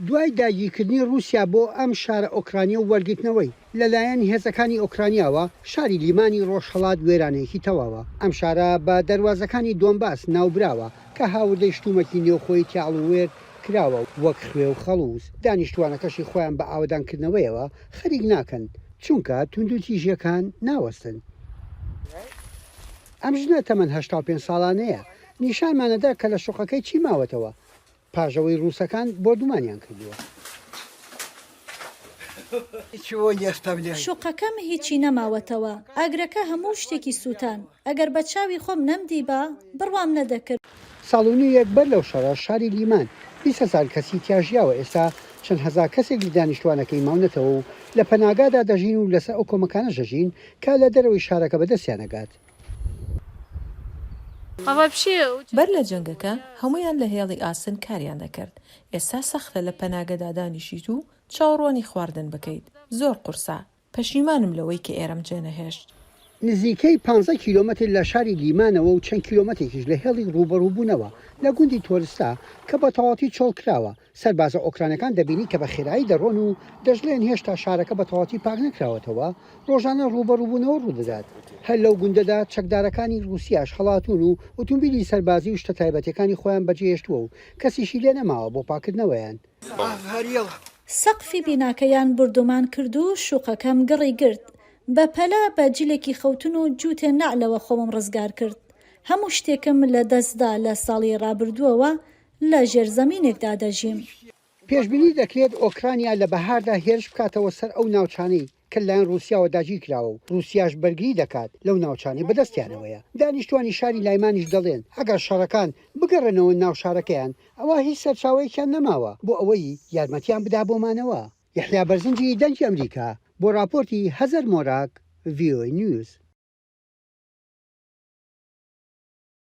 دوای داگیرکردنی ڕووسیا بۆ ئەم شارە ئۆکرانییە و وەرگرتنەوەی لە لایەن هێزەکانی ئۆکرانیاوە، شاری لیمانی ڕۆژهەڵات وێرانەیەکی تەواوە. ئەم شارە بە دەروازەکانی دۆنباس ناوبراوە کە هاوردەی شتومەکی نێوخۆیی تیاڵ و وێر کراوە وەک خوێ و خەڵووز، دانیشتووانەکەشی خۆیان بە ئاوەدانکردنەوەیەوە خەریک ناکەن چونکە توندوتیژییەکان ناوەستن. ئەم ژنە تەمەن هەشتا و پێنج ساڵانەیە نیشانمانەدا کە لە شوقەکەی چی ماوەتەوە. پاش ئەوەی ڕووسەکان بۆردومانیان کردووە. شوقەکەم هیچی نەماوەتەوە. ئاگرەکە هەموو شتێکی سووتان. ئەگەر بە چاوی خۆم نەمدیبا، بڕوام نەدەکرد. ساڵ و نیویەک بەر لەو شەڕە، شاری لیمان بیست هەزار کەسی تیا ژیاوە، ئێستا چەند هەزار کەسێک لە دانیشتووانەکەی ماونەتەوە و لە پەناگادا دەژین و لەسەر ئەو کۆمەکانەش دەژین کە لە دەرەوەی شارەکە بەدەستیان ئەگات. بەر لە جەنگەکە هەموویان لە هێڵی ئاسن کاریان دەکرد، ئێستا سەختە لە پەناگەدا دانیشیت و چاوڕوانی خواردن بکەیت، زۆر قورسە، پەشیمانم لەوەی کە ئێرەم جێنەهێشت. نزیکەی پانزە کیلۆمەتر لە شاری لیمانەوە و چەند کیلۆمەتێکیش لە هێڵی ڕووبەڕووبوونەوە لە گوندی تۆرستا کە بەتەواوەتی چۆڵکراوە، سەربازە ئۆکرانەکان دەبینی کە بە خێرایی دەڕۆن و دەشڵێن هێشتا شارەکە بە تەواوەتی پاک نەکراوەتەوە، ڕۆژانە ڕووبەڕووبوونەوە ڕوودەدات. هەر لەو گوندەدا چەکدارەکانی ڕووسیاش هەڵاتوون و ئوتومبیلی سەربازی و شتە تایبەتیەکانی خۆیان بەجێهێشتووە و کەسیشی لێ نەماوە بۆ پاککردنەوەیان. سەقفی بیناکەیان بوردومان کرد و شوقەکەم گڕی گرت. بە پەلە بە جلێکی خەوتن و جووتێ نەعلەوە خۆمم ڕزگار کرد. هەموو شتێکم لە دەست دا لە ساڵی ڕابردووەوە لە ژێر زەمینێکدا دەژیم. پێشبینی دەکرێت ئۆکرانیا لە بەهاردا هێرش بکاتەوە سەر ئەو ناوچانەی کە لەلایەن ڕووسیاوە داگیرکراوە و ڕووسیاش بەرگری دەکات لەو ناوچانەی بەدەستیانەوەیە. دانیشتووانی شاری لایمانیش دەڵێن ئەگەر شەڕەکان بگەڕێنەوە ناو شارەکەیان، ئەوا هیچ سەرچاوەیەکیان نەماوە بۆ ئەوەی یارمەتیان بدا بۆ مانەوە. یەحیا بەرزنجی، دەنگی ئەمریکا، بۆ ڕاپۆرتی، هەزەر مۆراک، ڤیۆەی نیوز.